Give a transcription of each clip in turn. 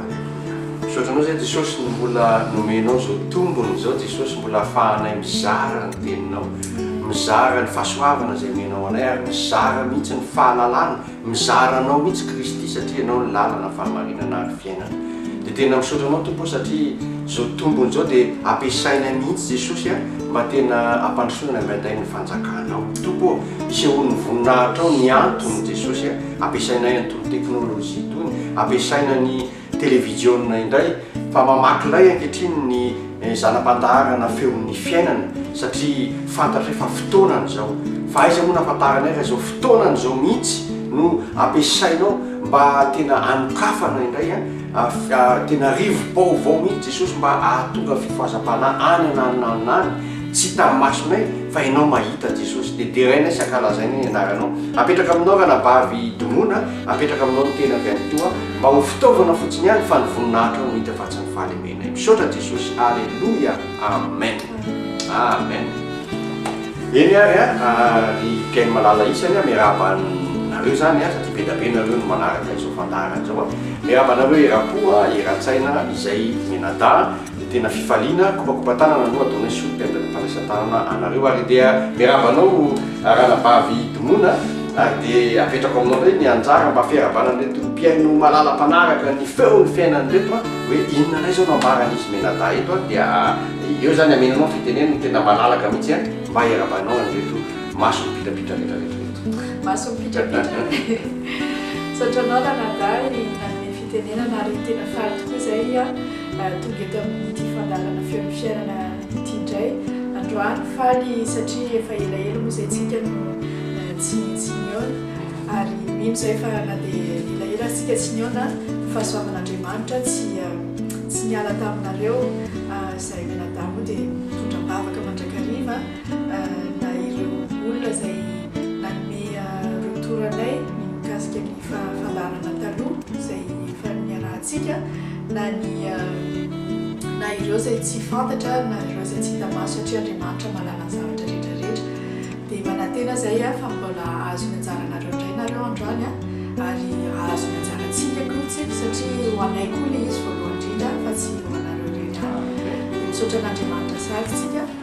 Aleloia. Misaotra anao zay Jesosy ny mbola nomenao zao tombony zao Jesosy mbola afahanay mizara ny teninao mizara ny fasoavana zay omenao anay ary mizara mihitsy ny fahalalana mizara anao mihitsy Kristy satria ianao ny lalana fahamarinana ary fiainana de tena misaotra anao Tompo o satria zao tombony zao de ampiasainay mihitsy Jesosy a mba tena ampandrosoana indraindray ny fanjakanao Tompo o isehoan'ny voninahitrao ny antony Jesosy a. ampiasainay an'itony teknolojia itony, ampiasaina ny televijiona indray, fa mamaky lay ankehitriny ny zana-pandaharana feon'ny fiainana, satria fantatry fa fotoanany izao, fa aiza moa no ahafantaranay fa izao fotoanany izao mihitsy no ampiasainao mba tena hanokafana indray an, tena rivo-baovao mihitsy Jesosy mba hahatonga fifohazam-panahy any an'aninanina any, Tsy hitan'ny masonay fa ianao mahita Jesosy dia deraina sy ankalazaina ny anaranao. Apetraka aminao ranabavy Dmona, apetraka aminao ny tenako ihany koa mba ho fitaovana fotsiny ihany fa ny voninahitrao no hita fa tsy ny fahalemenay. Misaotra Jesosy. Aleloia. Amen. Amen. Eny ary an, ry mpihaino malala isany an, miarahaba anareo zany an, satria bedabe nareo no manaraka izao fandaharana izao an. Miarahaba anareo eram-po an, eran-tsaina izay mianadahy. Dia tena fifaliana, kopakopan-tanana aloha ataonay sous peine de fandraisan-tanana anareo ary dia miarahaba anao Ranabavy Domona ary dia apetrako aminao indray ny anjara mba fiarahabana an'ireto mpihaino malala mpanaraka ny feon'ny fiainana ireto an, hoe inona indray izao no ambaran'izy mianadahy eto an, dia eo izany hameno anao ny fiteneniny tena malalaka mihitsy an, mba hiarahabanao an'ireto maso mipitrapitra rehetra rehetra ireto. Maso mipitrapitra e! Misaotra anao Ranadahy nanome fitenenana ary tena faly tokoa izay an. Tonga eto amin'ity fandaharana feon'ny fiainana ity indray androany faly satria efa elaela moa izay tsika no tsy tsy nihaona ary mino izay fa na dia elaela aza tsika tsy nihaona fahasoavan'Andriamanitra tsy tsy niala taminareo izay mianadahy moa dia mitondra am-bavaka mandrakariva na ireo olona izay nanome retour anay ny mikasika ny fa fandaharana taloha izay efa niarahantsika na ny na ireo izay tsy fantatra na ireo izay tsy hita maso satria Andriamanitra mahalala ny zavatra rehetra rehetra dia manantena izay aho fa mbola hahazo ny anjaranareo indray nareo androany a ary hahazo ny anjarantsika koa tsipy satria ho anay koa ilay izy voalohany indrindra fa tsy ho anareo rehetra misaotra an'Andriamanitra sady tsika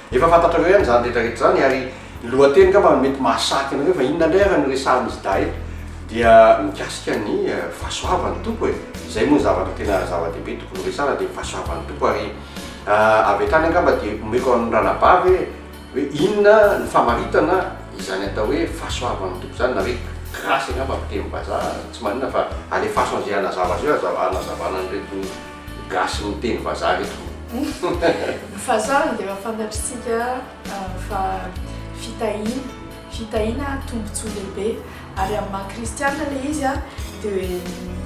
Efa fantatrareo ihany izany rehetra rehetra izany ary ny lohateny angamba no mety mahasarika anareo fa inona indray ary no resahan'izy dahy eto? dia mikasika ny fahasoavan'ny Tompo e! izay moa ny zavatra tena zava-dehibe tokony ho resahana dia ny fahasoavan'ny Tompo ary avy hatrany angamba dia omeko an'ny ranabavy hoe hoe inona ny famaritana izany atao hoe fahasoavan'ny Tompo izany na hoe grasy angamba amin'ny teny vazaha, tsy maninona fa alefaso an'izay hanazava azy eo hanazavana an'ireto Gasy miteny vazaha ve tompoko? Ny vazaha dia efa fantatritsika fa fitahiana, fitahiana tombontsoa lehibe ary amin'ny maha kristianina ilay izy dia hoe ny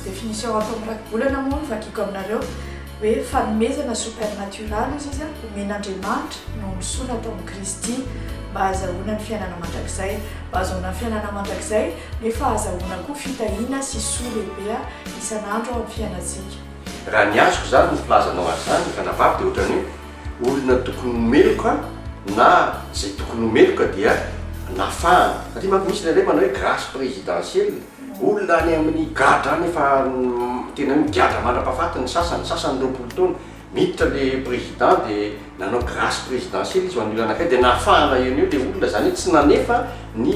définition ato amin'ny Rakibolana moa vakiako aminareo hoe fanomezana supernatural hozy izy omen'Andriamanitra nahombisoana atao amin'i Kristy mba hazahoana ny fiainana mandrakizay, mba hazahoana ny fiainana mandrakizay nefa hazahoana koa fitahiana sy soa lehibe. isan'andro ao amin'ny fiainantsika. Raha ny azoko izany ny filazanao azy izany, Ranabavy, dia ohatran'ny hoe olona tokony ho meloka na izay tokony ho meloka dia nafahana. Satria manko misy ilay hoe manao hoe grâce présidentielle, olona any amin'ny gadra any efa tena hoe migadra mandra-pahafaty ny sasany, ny sasany roapolo taona, Miditra le président de nanao grace présidentielle izy ho an'io anankiray de nahafahana eo noho eo le olona zany hoe tsy nanefa ny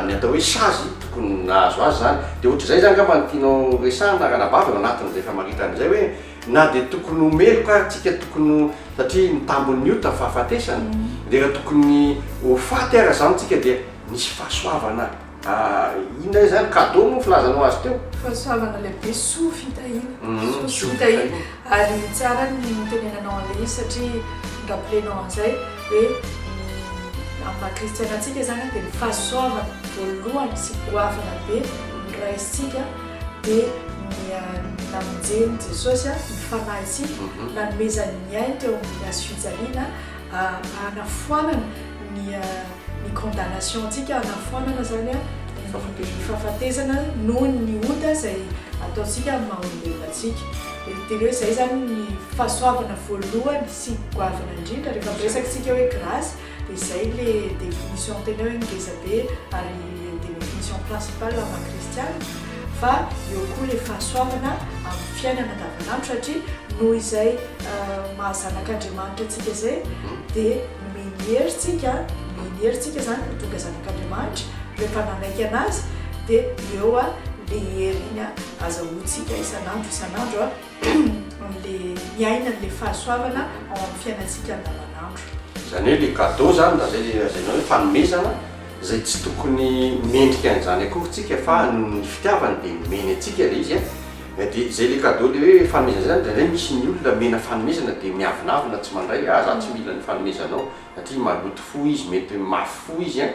ny atao hoe sazy tokony nahazo azy zany de ohatrizay zany ngamba no tianao resahana ranabavy ao anatin'izay famaritana izay hoe na de tokony ho meloka ary tsika tokony ho satria ny tambin'ny ota fahafatesana de raha tokony ho faty ara zany tsika de nisy fahasoavana Ah inona izany cadeau moa filazana ho azy teo? Fahasoavana lehibe soa fitahiana, soa sy fitahiana ary tsara ny nitenenanao an'ilay izy satria ni-rappeler-nao an'izay hoe ny amin'ny maha kristiana antsika izany dia ny fahasoavana voalohany sy goavana be ny Ray isika dia ny namonjen'i Jesosy ny fanahy isika, nanomezany ny ainy teo amin'ny hazo fijaliana hanafoanana ny. ny condamnation antsika hanafoanana izany ny fahafatesana noho ny ota izay ataontsika amin'ny maha olombelona antsika. Dia tena hoe izay izany ny fahasoavana voalohany sy goavana indrindra rehefa miresaka isika hoe grace dia izay ilay définition tena hoe ngeza be ary définition principale amin'ny maha kristiana fa eo koa ilay fahasoavana amin'ny fiainana andavanandro satria noho izay maha zanak'Andriamanitra antsika izay dia Omeny hery tsika, omeny hery tsika zany no tonga zanak'Andriamanitra rehefa nanaiky anazy de eo a le hery iny a azahoantsika isan'andro isan'andro a amle miaina anle fahasoavana ao am fiainantsika andavan'andro. Zany hoe le cadeau zany na zay le lazainao hoe fanomezana zay tsy tokony mendrika an'izany akory tsika fa nohon'ny fitiavany de nomeny antsika le izy a. Eh dia izay ilay cadeau ilay hoe fanomezana izay zany indraindray misy ny olona omena fanomezana dia miavonavona tsy mandray ah za tsy mila ny fanomezanao satria maloto fo izy mety mafy fo izy an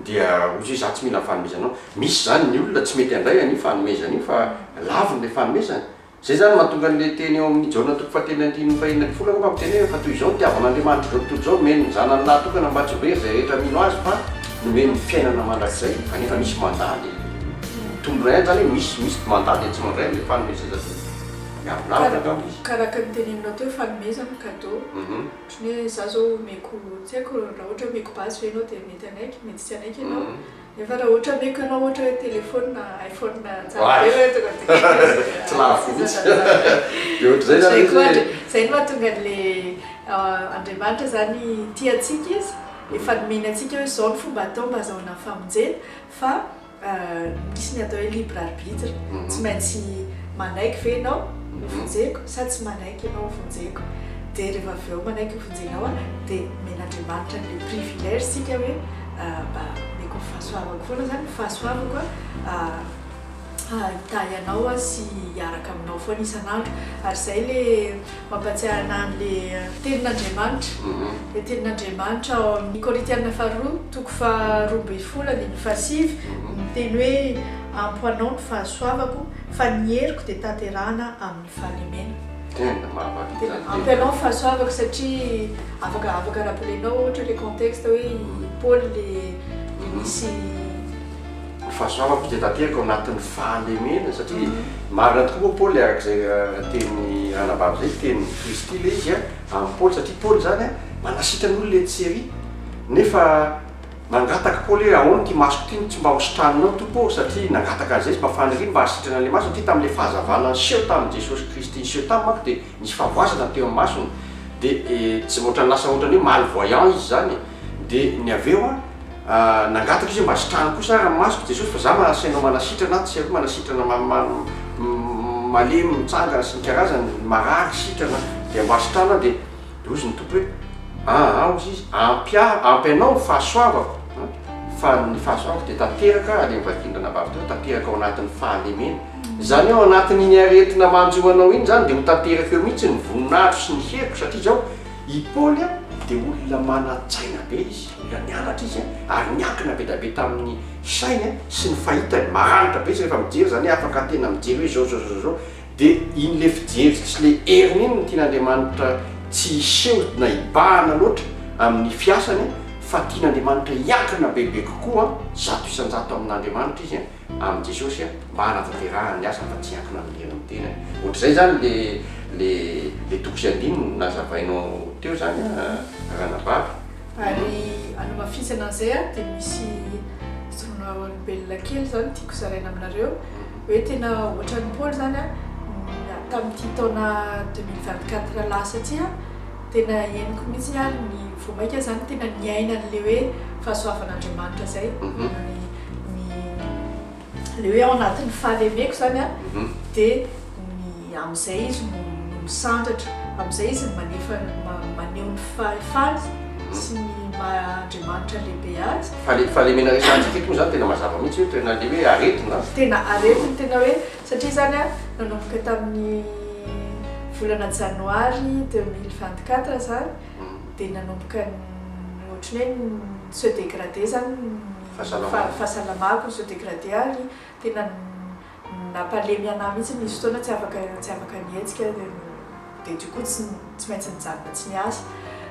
dia ohatra hoe za tsy mila ny fanomezanao misy zany ny olona tsy mety handray an'io fanomezana io fa laviny ilay fanomezana izay zany no mahatonga an'ilay teny ao amin'ny Jaona toko fahatelo andininy fahenina ambin'ny folo angamba miteny hoe fa toy izao no itiavan'Andriamanitra izao tontolo izao nomeny ny zanany lahy tokana mba tsy ho very izay rehetra mino azy fa nomeny ny fiainana mandrakizay anefa misy mandà ilay Mitondra aina zany hoe misy misy mandady atsimo andray amle fanomezana zany miavonavona angamba izy. Kara araka ny teneninao teo fanomezana cadeau otrany hoe za zao omeko tsy aiko ra ohatra omeko basy ve enao de mety hanaiky mety tsy hanaiky enao nefa ra ohatra omeko enao ohatra hoe telephone na iphone tsara be le tonga de tsy lavo mintsy de otrzay zany izy hoe zay no mahatonga anle Andriamanitra zany tia atsika izy efa nomeny atsika hoe zao no fomba atao mba azahoana famonjena Fa misy ny atao hoe libre arbitre, tsy maintsy manaiky ve ianao hovonjeko sa tsy manaiky ianao hovonjeko. Dia rehefa avy eo manaiky hovonjenao aho dia omen'Andriamanitra an'ilay privilège isika hoe mba omeko ny fahasoavako foana izany, ny fahasoavako an. hitahy anao aho sy hiaraka aminao foana isan'andro. Ary izay ilay mampahatsiahy anahy an'ilay tenin'Andriamanitra. Ilay tenin'Andriamanitra ao amin'ny Korintiana faharoa, toko faharoa ambin'ny folo andininy fahasivy, miteny hoe, Ampo anao ny fahasoavako, fa ny heriko dia tanterahina amin'ny fahalemena. Tena mahavaritana tena. Ampy anao ny fahasoavako satria afaka afaka rappeler-nao ohatra ilay contexte hoe i Paoly ilay nisy. Ho fahasoavako dia tanteraka ao anatin'ny fahalemena, satria marina tokoa moa Paoly, araka izay tenin'ny ranabavy izay, tenin'i Kristy ilay izy amin'i Paoly, satria Paoly izany manasitrana ny olona etsy sy ery, nefa nangataka Paoly hoe ahoana ity masoko ity no tsy mba hositrananao Tompo ô, satria nangataka an'izay izy mba faniriany mba hahasitrana an'ilay maso, satria tamin'ilay fahazavana niseho tamin'i Jesosy Kristy niseho taminy manko dia Nisy fahavoazana teo am masony de tsy otrany lasa otrany hoe mal voyant izy zany de ny avy eo an nangataka izy hoe mba sitrano kosa ary ny masoko Jesosy fa za manana saina manasitrana aho tsy aiko manasitrana malemy mitsangana sy ny karazany marary sitrana dia mba asitrano aho dia hozy ny Tompo hoe aa hozy izy ampy ahy ampy anao ny fahasoavako an fa ny fahasoavako dia tanteraka any am vadindrana vavy teo tanteraka ao anatin'ny fahalemena Izany hoe ao anatin'iny aretina manjo anao iny izany dia ho tanteraka eo mihitsy ny voninahitro sy ny heriko satria izao i Paoly dia olona manan-tsaina be izy, mbola nianatra izy ary niankina be dia be tamin'ny sainy sy ny fahitany, maranitra be izy rehefa mijery izany hoe afaka tena mijery hoe izao izao izao izao dia iny ilay fijery sy ilay heriny iny no tian'Andriamanitra tsy hiseho na hibahana loatra amin'ny fiasany fa tian'Andriamanitra hiankina bebe kokoa zato isan-jato amin'Andriamanitra izy. Amin'i Jesosy a, mba hanatanterahany ny asany fa tsy hiankina amin'ny henony tenany. Ohatr'izay izany le le le toko sy andininy nazavainao teo izany a Ranabavy. Ary hanamafisana an'izay a, dia misy zon'olombelona kely izany tiako zaraina aminareo, hoe tena ohatran'i Paoly izany a, tamin'ity taona deux mille vingt quatre lasa ity a, tena henoko mihitsy ny ahy, vao mainka izany tena niaina an'ilay hoe fahasoavan'Andriamanitra izay. ny le hoe ao anatin'ny fahalemeko zany a de ny am'zay izy no misandratra am'zay izy no manefa maneho ny fahefany sy ny maha Andriamanitra lehibe azy. Fa le fahalemena resahantsika eto moa zany tena mazava mihitsy hoe tena le hoe aretina a. Tena aretina tena hoe satria zany a nanomboka tamin'ny volana janoary deux mille vingt quatre zany de nanomboka ny ohatry ny hoe ni-se degrader zany ny fahasalamako se dégradé ary tena nampalemy anah mihitsy nisy fotoana tsy afaka tsy afaka nihetsika dia du coup tsy tsy maintsy nijanona tsy niasa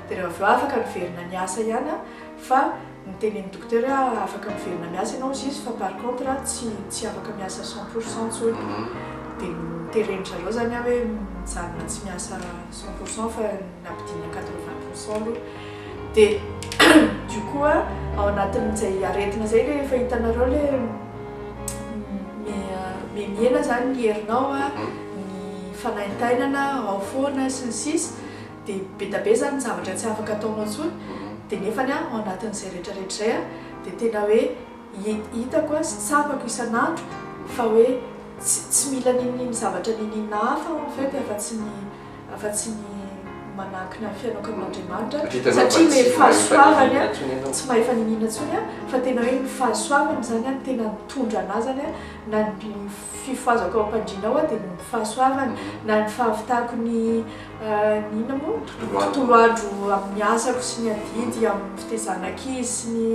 dia raha avy eo afaka niverina niasa ihany aho fa nitenen'ny docteur hoe ah, afaka miverina miasa ianao juste fa par contre ah, tsy tsy afaka miasa cent pour cent intsony mhm. dia noteren-dry zareo izany aho hoe mijanona tsy miasa cent pour cent fa nampidinina quatre vingt pour cent aloha de du coup a ao anatin'izay aretina zay le efa hitanareo le mihena zany ny herinao a ny fanaintainana ao foana sy ny sisa de be da be zany ny zavatra tsy afaka ataonao tsony de nefany a ao anatin'izay retraretra zay a de tena hoe hitako a sy tsapako isan'andro fa hoe tsy mila nininin'ny zavatra ninininao hafa en fait afa-tsy ny afa-tsy ny manankina ny fianakavy an'Andriamanitra, satria ilay fahasoavany a, tsy mahefa niniana intsony a, fa tena hoe ny fahasoavany izany a, tena mitondra anà izany a, na ny fifohazako ao am-pandriana ao a, dia ny fahasoavany, na ny fahavitako ny ny inona moa? Tontolo andro amin'ny asako sy ny adidy amin'ny fitaizana ankizy sy ny.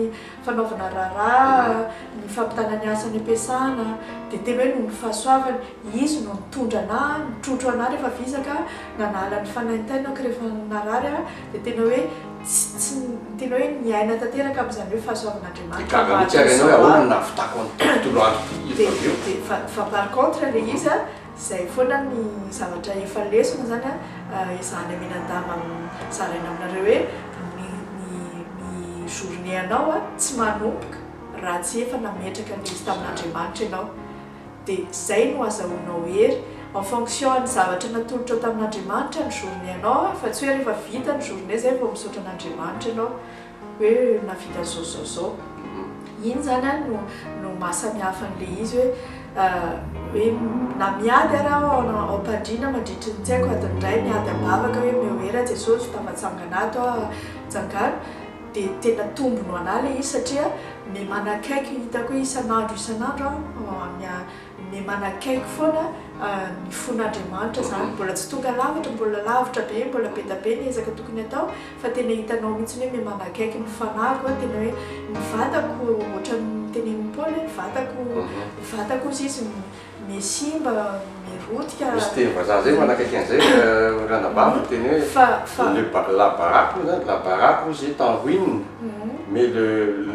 fanaovana raharaha, ny fampitana ny asa any am-piasana, dia tena hoe noho ny fahasoavany, Izy no nitondra anà, nitrotro anà rehefa vizaka, nanala ny fanaintainako rehefa narary aho, dia tena hoe tsy, tsy, tena hoe niaina tanteraka amin'izany hoe fahasoavan'Andriamanitra Gaga mihitsy ary ianao hoe ahoana no nahavitako an'ity tontolo andro ity efa avy eo? Dia, fa, fa par contre ilay izy an, Izay foana ny zavatra efa lesona izany an, ezahana minan-damba amin'ny zaraina aminareo hoe ny ny ny journée anao an tsy manomboka raha tsy efa nametraka ny izy tamin'Andriamanitra ianao. Dia izay no azahoanao hery. En fonction an'ny zavatra natolotrao tamin'Andriamanitra ny journée anao an, fa tsy hoe rehefa vita ny journée izay vao misaotra an'Andriamanitra ianao. hoe nahavita zao zao zao iny zany a no no maha samihafa an'le izy hoe hoe na miady ara aho ao na- ao am-pandriana mandritry ny tsy haiko adiny iray miady am-bavaka hoe omeo hery aho Jesosy fa tafatsangana ato aho a tsangano de tena tombony ho anahy le izy satria me manakaiky hitako hoe isan'andro isan'andro aho mia- me manakaiky foana ny fon'Andriamanitra zany mbola tsy tonga lavitra mbola lavitra be mbola be da be ny ezaka tokony atao fa tena hitanao mihitsy hoe mihamana akaiky ny fanahiko a, tena hoe ny vatako ohatran'ny tenenin'i Paoly hoe ny vatako, ny vatako hozy izy mihasimba, mirotika, Misy teny vazaha izay manakaiky an'izay ranabavy miteny hoe, fa, fa, le ba, la baraque moa izany, la baraque hozy est en ruine, mais le,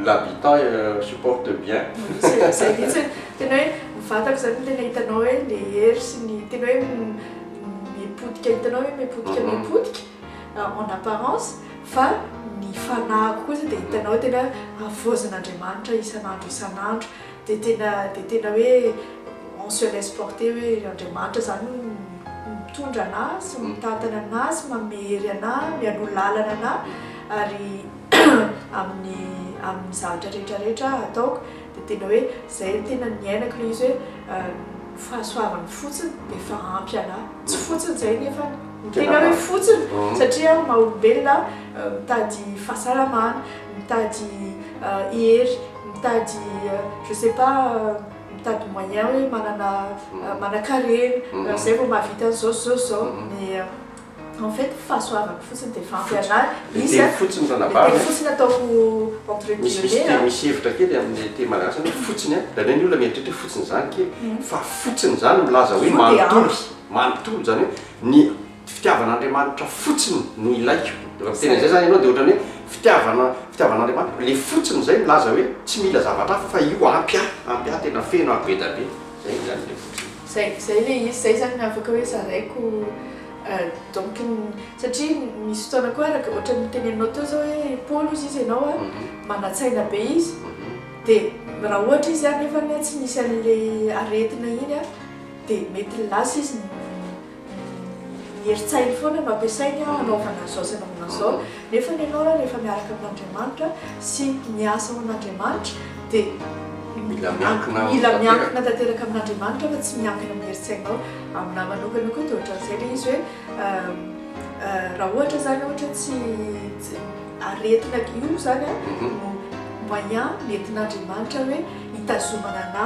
l'habitant supporte bien. Izay, izay mihitsy hoe, tena hoe ny vatako izany tena hitanao hoe le hery sy ny, tena hoe mipotika, hitanao hoe mipotika, mipotika, en apparence fa ny fanahiko kosa dia hitanao tena havaozan'Andriamanitra isan'andro isan'andro dia tena dia tena hoe on se laisse porter hoe Andriamanitra zany no mitondra anà sy mitantana anà sy manome hery anà mialoha lalana anà ary amin'ny amin'ny zavatra rehetra rehetra ataoko Dia tena hoe izay no tena niainako ilay izy hoe fahasoavana fotsiny dia efa ampy anah. Tsy fotsiny izay nefa ny tena hoe fotsiny satria aho maha olombelona aho mitady fahasalamana, mitady hery, mitady je sais pas mitady moyen hoe manana manan-karena izay vao mahavita an'izao sy izao sy izao. En fait fahasoavako fotsiny dia efa ampy anah Le izy teny fotsiny le teny fanavahana. fotsiny ataoko entre Misy misy guillemets te- an. misy hevitra kely amin'ny teny malagasy ny hoe fotsiny an! Hitanay ny olona mieritreritra hoe fotsiny izany kely fa fotsiny izany milaza hoe Fotsiny dia manontolo, ampy. manontolo izany hoe ny fitiavan'Andriamanitra fotsiny no ilaiko. Raha miteny an'izay izany ianao dia ohatran'ny hoe fitiavana fitiavan'Andriamanitra le fotsiny izay milaza hoe tsy mila zavatra hafa fa io ampy ahy, ampy ahy tena feno aho be dia be. Izay izany le fotsiny. Zay zay le izy zay zany afaka hoe zaraiko donc satria misy fotoana koa araka ohatran'ny noteneninao teo zao hoe Paolo ozy izy ianao a manatsaina be izy de raha ohatra izy anefa tsy misy an'le aretina iny a de mety lasa izy Herin-tsainy foana no ampiasainy hanaovana izao sy hanaovana izao, nefa ny anao raha rehefa miaraka amin'Andriamanitra sy miasa ho an'Andriamanitra dia mila miankina tanteraka amin'Andriamanitra fa tsy miankina amin'ny herin-tsainao. Aminahy manokana koa dia ohatran'izay ilay izy hoe raha ohatra izany ohatra tsy aretina io izany no moyen nentin'Andriamanitra hoe hitazomana anà.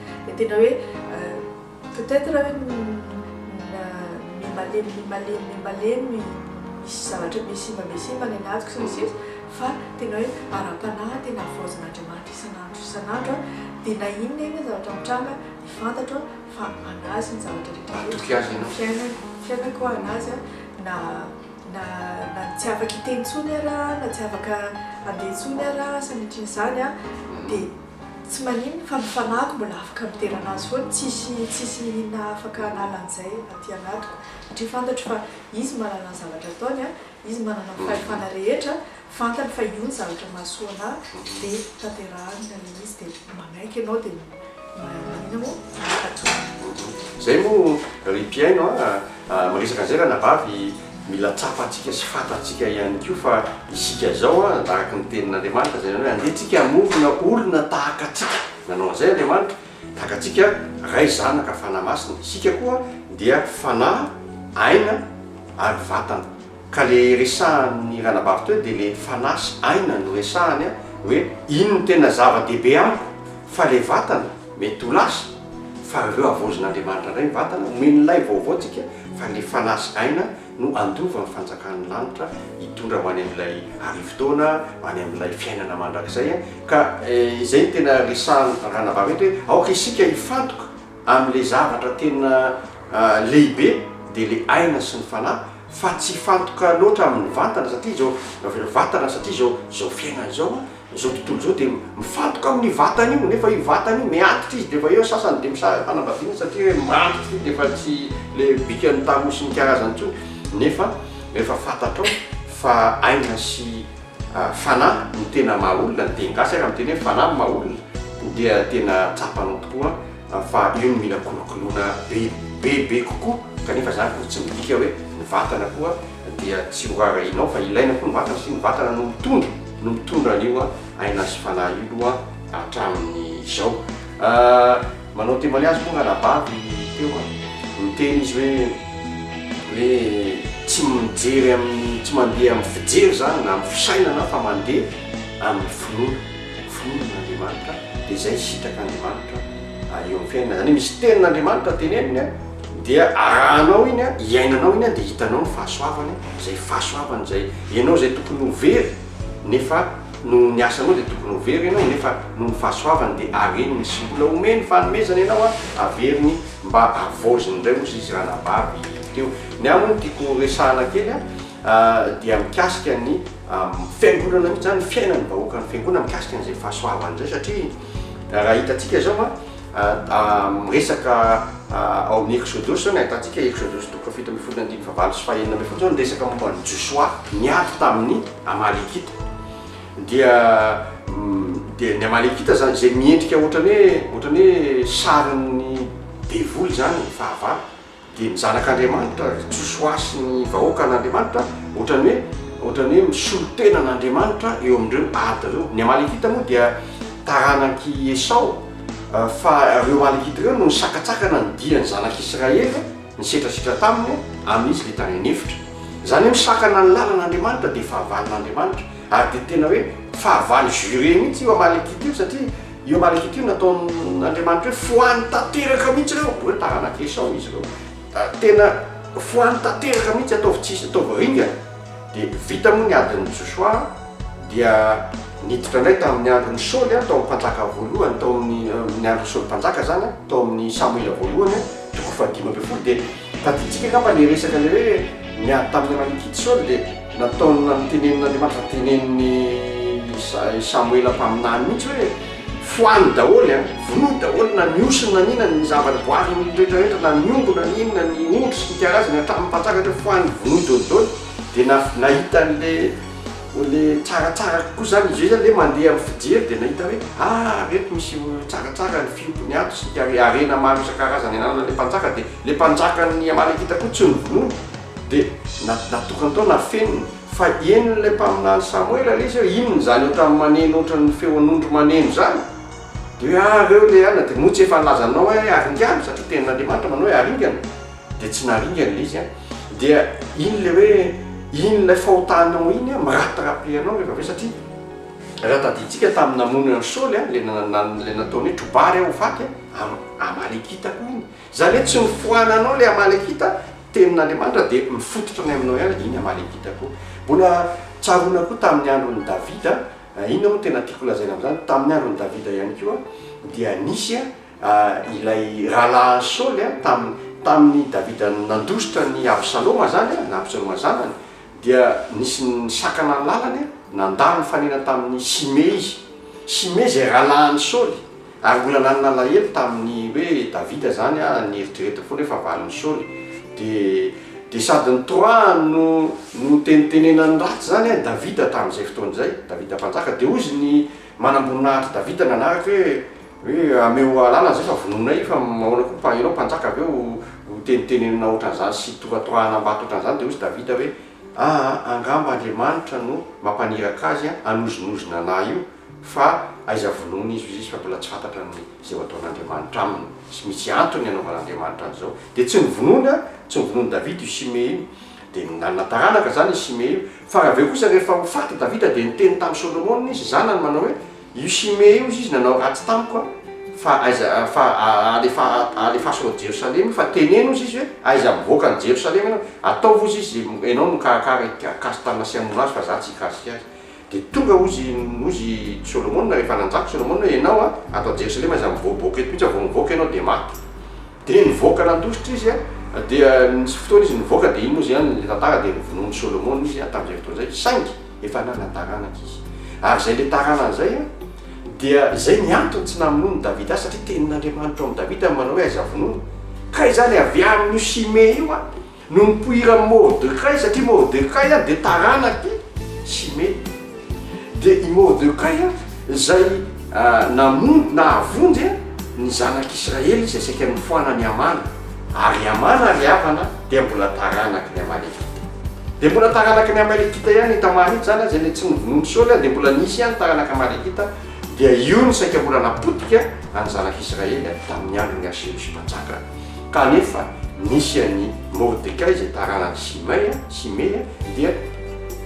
dia tena hoe peut être hoe miha-malemy miha-malemy miha-malemy misy zavatra mihasimba mihasimba any anatiko sy ny sisa fa tena hoe ara-panahy tena havaozan'Andriamanitra isan'andro isan'andro aho dia na inona na inona zavatra mitranga dia fantatro aho fa an'azy ny zavatra rehetra rehetra ny fiainako ny fiainako ho an'azy aho na na na tsy afaka hiteny intsony ary aho na tsy afaka handeha intsony ary aho sanatria an'izany dia Tsy maninona fa ny fanahiko mbola afaka midera anazy foana, tsisy tsisy inona afaka hanala an'izay aty anatiko satria fantatro fa izy manana ny zavatra ataony an, izy manana ny fahefana rehetra, fantany fa io ny zavatra mahasoa anah de tanterahany ny an'ilay izy de manaiky ianao de maninona moa? Mankatò. Zay moa ry mpihaino an! Miresaka an'izay ranabavy, mila tsapantsika sy fantatsika ihany koa fa isika izao an, tahaka ny tenin'Andriamanitra izay nanao hoe andeha tsika hamonjona olona tahaka antsika, nanao an'izay Andriamanitra, tahaka antsika, Ray, Zanaka, Fanahy Masina, isika koa dia fanahy, aina ary vatana. Ka le resahan'ny ranabavy teo de le fanahy sy aina no resahany a, hoe iny no tena zava dehibe amiko fa le vatana mety ho lasa fa avy eo havaozin'Andriamanitra ndray ny vatana omeny lay vaovao tsika fa le fanahy sy aina no handova ny fanjakan'ny lanitra hitondra ho any amin'ilay arivo taona ho any amin'ilay fiainana mandrakizay a, ka izay no tena resahan'ny ranabavy eto hoe aoka isika hifantoka amin'le zavatra tena lehibe de le aina sy ny fanahy fa tsy hifantoka loatra amin'ny vatana satria izao raha vao vatana satria izao izao fiainana izao a, izao tontolo izao dia mifantoka amin'ny vatana io nefa io vatana io miantitra izy dia efa eo sasany dia misaraka fanambadiana satria hoe mantitra io dia efa tsy ilay bikan'ny tarohy sy ny karazany intsony nefa rehefa fantatrao fa aina sy fanahy no tena maha olona ny teny gasy ary miteny hoe fanahy no maha olona dia tena tsapanao tokoa Amin'ny fahabeany mila kolokoloina be be be kokoa kanefa izany koa tsy midika hoe ny vatana koa dia tsy ho rarahianao fa ilaina koa ny vatana satria ny vatana no mitondra no mitondra an'io aina sy fanahy io loha hatramin'izao. Manao témoignage moa ranabavy teo a, miteny izy hoe hoe tsy mijery amin'ny tsy mandeha amin'ny fijery izany na amin'ny fisainana fa mandeha amin'ny finoana. Vonona Andriamanitra dia izay sitraka Andriamanitra eo amin'ny fiainana. Izany hoe misy tenin'Andriamanitra teneniny dia arahanao iny, iainanao iny dia hitanao ny fahasoavany, izay fahasoavany izay ianao izay tokony ho very nefa noho ny asanao dia tokony ho very ianao nefa noho ny fahasoavany dia areniny sy mbola omeny fanomezana ianao averiny mba havaoziny indray hozy izy raha nabavy teo. Ny aminy tiako resahana kely dia mikasika ny amin'ny fiangonana mihitsy zany, fiainan'ny vahoakan'ny fiangonana mikasika an'izay fahasoavana izay satria raha hitantsika izao a miresaka ao amin'ny Exodosy zao ny ahitantsika Exodosy toko fahafito ambin'ny folo ny andininy fahavalo sy fahenina ambin'ny folo zao ny resaka momba an'i Josoa niady tamin'ny Amalekita dia dia ny Amalekita zany izay miendrika ohatran'ny hoe ohatran'ny hoe sarin'ny devoly zany ny fahavalo Dia ny Zanak'Andriamanitra, ry Josoa sy ny vahoakan'Andriamanitra, ohatran'ny hoe, ohatran'ny hoe misolo tena an'Andriamanitra eo amin'ireo ady ireo. Ny Amalekita moa dia taranak'i Esao, fa ireo Amalekita ireo no nisakatsakana ny dian'ny Zanak'Israely, nisetrasitra taminy, amin'izy ilay tany an'efitra. Izany hoe misakana ny lalan'Andriamanitra dia fahavalon'Andriamanitra, ary dia tena hoe fahavalo juré mihitsy io Amalekita io, satria, Io marika ity nataon'Andriamanitra hoe foany tanteraka mihitsy ireo, hoe taranak'i Esao izy ireo. Ah, tena foany tanteraka mihitsy, ataovy tsisy, ataovy ringana. Dia vita moa ny adin'i Josoa, dia niditra indray tamin'ny andron'i Saoly, ah, tao amin'ny mpanjaka voalohany, tao amin'ny andron'i Saoly mpanjaka izany, tao amin'ny Samoela voalohany, toko fahadimy ambin'ny folo, dia Tadintsika angamba ilay resaka ilay hoe niady tamin'ny anan'i Gid Saoly dia nataony notenenin'Andriamanitra tenenin'i i Samoela mpaminany mihitsy hoe fohano daholo an, vonoy daholo na ny osy na ny inona ny zava-boary rehetra rehetra na ny omby na ny inona ny ondry sy ny karazany hatramin'ny mpanjaka hatreto fohano vonoy daholo daholo dia nahita an'ilay Ô le tsaratsara kokoa zany izy io zany le mandeha amin'ny fijery dia nahita hoe ah reto misy tsaratsara ny fiompiny ato sy ny hare harena maro isan-karazany ananan'ilay mpanjaka dia ilay mpanjakan'ny Amalekita koa tsy novonoiny dia na- natokany tao nafeniny fa henon'ilay mpaminany Samoela le izy hoe inona izany ohatran'ny maneno ohatran'ny feon'ondry maneno izany dia hoe ah reo le anona dia moa tsy efa nilazanao hoe haringano satria tenin'Andriamanitra manao hoe haringana dia tsy naringany le izy a, dia iny le hoe iny ilay fahotanao iny a mirapidrapy anao rehefa avy eo satria raha tadidintsika tamin'ny namonoana an'i Saoly a, le le nataony hoe trobar aho ho faty a, am- amalekita koa iny, zany hoe tsy nifoananao le amalekita, tenin'Andriamanitra dia mifototra any aminao ihany iny amalekita koa, mbola tsaroana koa tamin'ny andron'i Davida, inona moa no tena tiako lazaina amin'izany, tamin'ny andron'i Davida ihany koa dia nisy a, ilay rahalahin'i Saoly a, tamin'ny, tamin'i Davida nandositra an'i Absaloma izany a, na Absaloma zanany, dia nisy nisakana ny lalany, nandà ny fanenany tamin'i Simey izy. Simey izay rahalahin'i Saoly, ary mbola nanana alahelo tamin'ny hoe Davida izany a, nieritreretiny foana hoe fa valin'i Saoly. Dia, dia sady ny Torah no notenitenenany ratsy izany a i Davida tamin'izay fotoana izay, Davida Mpanjaka, dia hoy izy ny manamboninahitry Davida nanaraka hoe, Hoe ameo alana zay fa vonoinay io fa mahoana koa fa ianao mpanjaka avy eo ho tenitenenina ohatran'izany sy tohatohahana am-bato ohatran'izany dia hoy Davida hoe aa angamba Andriamanitra no mampaniraka azy hanozinozina anah io fa aiza vonoina izy izy fa mbola tsy fantatra ny izay ho ataon'Andriamanitra aminy sy misy antony hanaovan'Andriamanitra an'izao dia tsy novonoiny an tsy novonoin'i Davida io Simey io dia nanana taranaka izany i Simey io fa avy eo kosa rehefa ho faty Davida dia niteny tamin'i Solomona izy zanany manao hoe Io Shimea io, hoy izy, nanao ratsy tamiko, fa aiza, fa alefa, alefaso ao Jerosalema, fa teneno, hoy izy, hoe, aiza mivoaka any Jerosalema ianao, ataovy, hoy izy, izay ianao no mikarakara i Kastana sy hamono azy, fa izaho tsy hikasika azy. Dia tonga, hoy izy, hoy izy, i Solomona, rehefa nanjaka i Solomona, hoe, ianao, ato Jerosalema, aiza mivoaboaka eto mihitsy aho, vao mivoaka ianao dia maty. Dia nivoaka nandositra izy an, dia nisy fotoana izy nivoaka, dia iny moa izany ilay tantara, dia novonoin'i Solomona izy an, tamin'izay fotoana izay, saingy efa nanana taranaka izy. Ary izay ilay taranany izay an, dia izay ny antony tsy namonoan'i Davida azy, satria tenin'Andriamanitra ao amin'i Davida ny manao hoe aiza vonoina. Ka izany avy amin'io Simea io an. No nipoiran'i Mordekay, satria Mordekay dia taranak'i Shimea. Dia i Mordekay izay namonjy, nahavonjy ny zanak'Israely izay saika nofoana an'i Hamana. Ary i Hamana ry havana dia mbola taranaky ny Amalekita. Dia mbola taranaky ny Amalekita ihany i Tamara iny, izany aza ilay tsy novonoin'i Saoly, dia mbola nisy ihany taranaka Amalekita. Dia io no saika mbola napotika ny zanak'Israely tamin'ny andron'i Aseosy Mpanjaka. Kanefa nisy an'i Mordekay izay taranak'i Simay, Simea, dia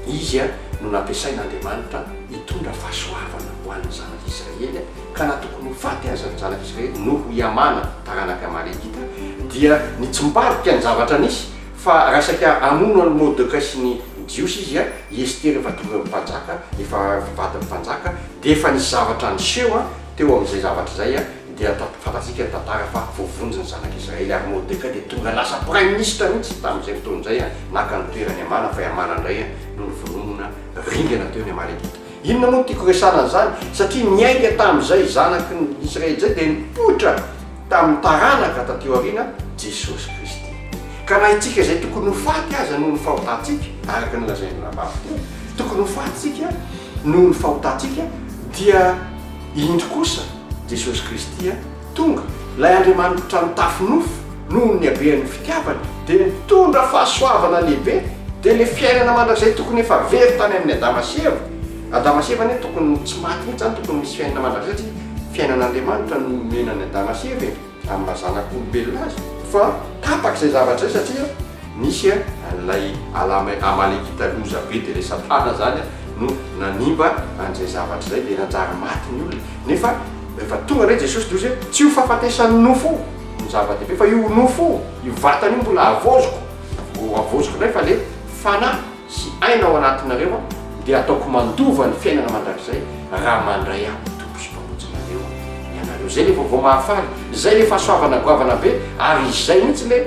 izy no nampiasain'Andriamanitra hitondra fahasoavana ho an'ny zanak'i Israely, ka na tokony ho faty aza ny zanak'i Israely noho i Hamana taranak'i Amalegita, dia nitsimbadika ny zavatra nisy, fa raha saika hamono an'i Mordekay sy ny Jiosy izy, i Estera efa torohevim-panjaka, efa avy vadin'ny mpanjaka, dia efa nisy zavatra niseho. Teo amin'izay zavatra izay dia fantatsika ny tantara fa voavonjy ny zanak'i Israely ary Mordecai dia tonga lasa praiminisitra mihitsy tamin'izay fotoana izay, naka ny toeran'i Hamana fa i Hamana indray no nivononona ringana teo ny Amalekita. Inona moa no tiako resahana an'izany? Satria niainga tamin'izay zanaky ny Israely izay dia nipoitra tamin'ny taranaka taty aoriana, Jesosy Kristy. Ka na itsika izay tokony ho faty aza noho ny fahotantsika, araka ny lazain'ny Rabavy teo, tokony ho faty isika, noho ny fahotantsika, dia indro kosa Jesosy Kristy tonga, ilay Andriamanitra nitafy nofo noho ny habean'ny fitiavany, dia nitondra fahasoavana lehibe, dia ilay fiainana mandrakizay tokony efa very tany amin'i Adama sy Eva, Adama sy Eva anie tokony tsy maty mihintsy zany, tokony misy fiainana mandrakizay, satria fiainan'Andriamanitra no nomena an'i Adama sy Eva e. amin'ny maha zanak'olombelona azy fa tapaka izay zavatra izay satria nisy an'ilay alame amalekita loza be dia ilay satana izany no nanimba an'izay zavatra izay dia nanjary maty ny olona nefa rehefa tonga indray Jesosy dia hozy hoe tsy io fahafatesan'ny nofo io no zava-dehibe fa io nofo io, io vatana io mbola havaoziko, ho havaoziko indray fa ilay fanahy. sy aina ao anatinareo dia ataoko mandova ny fiainana mandrakizay raha mandray ahy ho Tompo sy Mpamonjy nareo ianareo zay le vaovao mahafaly zay le fahasoavana goavana be ary izay mintsy le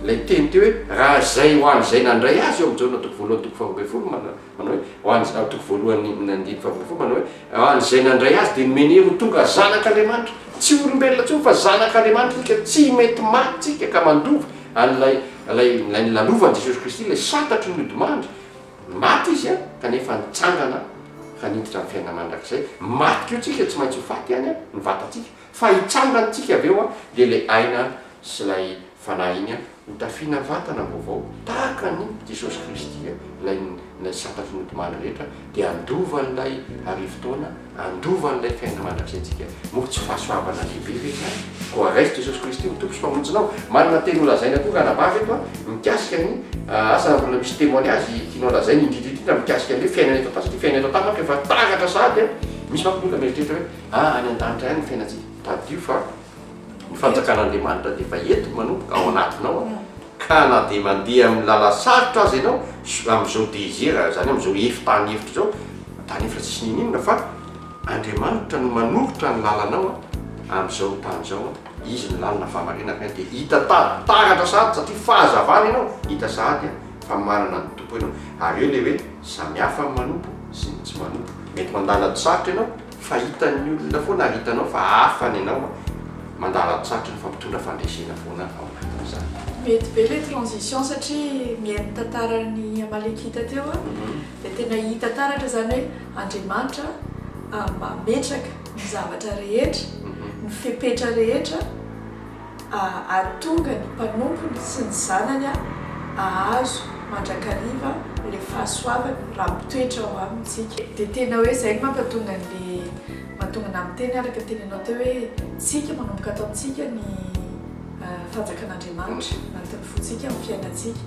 lay teny teo hoe raha izay ho an'izay nandray azy eo am Jaona toko voalohany toko faharoa ambin'ny folo manao hoe ho an'izay toko voalohany andiny faharoa ambin'ny folo manao hoe ho an'izay nandray azy dia nomeny hery ho tonga zanak'Andriamanitra tsy olombelona tsony fa zanak'Andriamanitra tsika tsy mety maty tsika ka mandova Ary ilay, ilay, ilay nilalovan'i Jesosy Kristy ilay santatry ny odimandry, maty Izy an, kanefa nitsangana ka niditra ny fiainana mandrakizay. Maty koa tsika, tsy maintsy ho faty ihany an, ny vatantsika, fa hitsangana tsika avy eo an, dia ilay aina sy ilay fanahy iny an, ho tafiana vatana vaovao, tahaka an'i Jesosy Kristy an, ilay, ilay santatry ny odimandry rehetra, dia handova an'ilay arivo taona, Handova an'ilay fiainana mandrakizay-ntsika. Moa tsy fahasoavana lehibe ve izany? Koa raiso Jesosy Kristy ho Tompo sy Mpamonjinao. Manana teny holazaina koa ranabavy eto a, mikasika ny asa mbola misy témoignage tianao lazaina indrindra indrindra mikasika ny hoe fiainana eto an-tany sy ny fiainana eto an-tany ohatra efa taratra sahady a. Misy manko ny olona mieritreritra hoe, ah any an-danitra ihany ny fiainantsika. Tadidio fa. Ny fanjakan'Andriamanitra dia efa eto manomboka ao anatinao an, ka na dia mandeha amin'ny lala sarotra aza ianao amin'izao désert, izany hoe amin'izao ef tany efitra izao, tany efitra tsisy n'inon'inona fa Andriamanitra no manoritra ny lalanao an, amin'izao tany izao an, Izy no lalana fahamariana ka dia hita tara, taratra sahady satria fahazavana ianao, hita sahady an, fa manana ny Tompo ianao, ary eo ilay hoe samihafa ny manompo sy ny tsy manompo, mety mandalo ady sarotra ianao, Fa hitan'ny olona foana ary hitanao fa hafa ny anao a! Mandà latsatry ny fampitondra fandresena foana ao anatin'izany. Mety be le transition satria mihaino tantaran'i Amalekita teo aho dia tena hita taratra zany hoe Andriamanitra mametraka ny zavatra rehetra, ny fepetra rehetra. hahatonga ny mpanompony sy ny zanany hahazo mandrakariva ilay fahasoavana raha mitoetra ao amintsika. Dia tena hoe izay no mampatonga an'ilay mahatonga anà miteny araka ny teninao teo hoe isika manomboka ato amintsika ny fanjakan'Andriamanitra anatin'ny fontsika amin'ny fiainantsika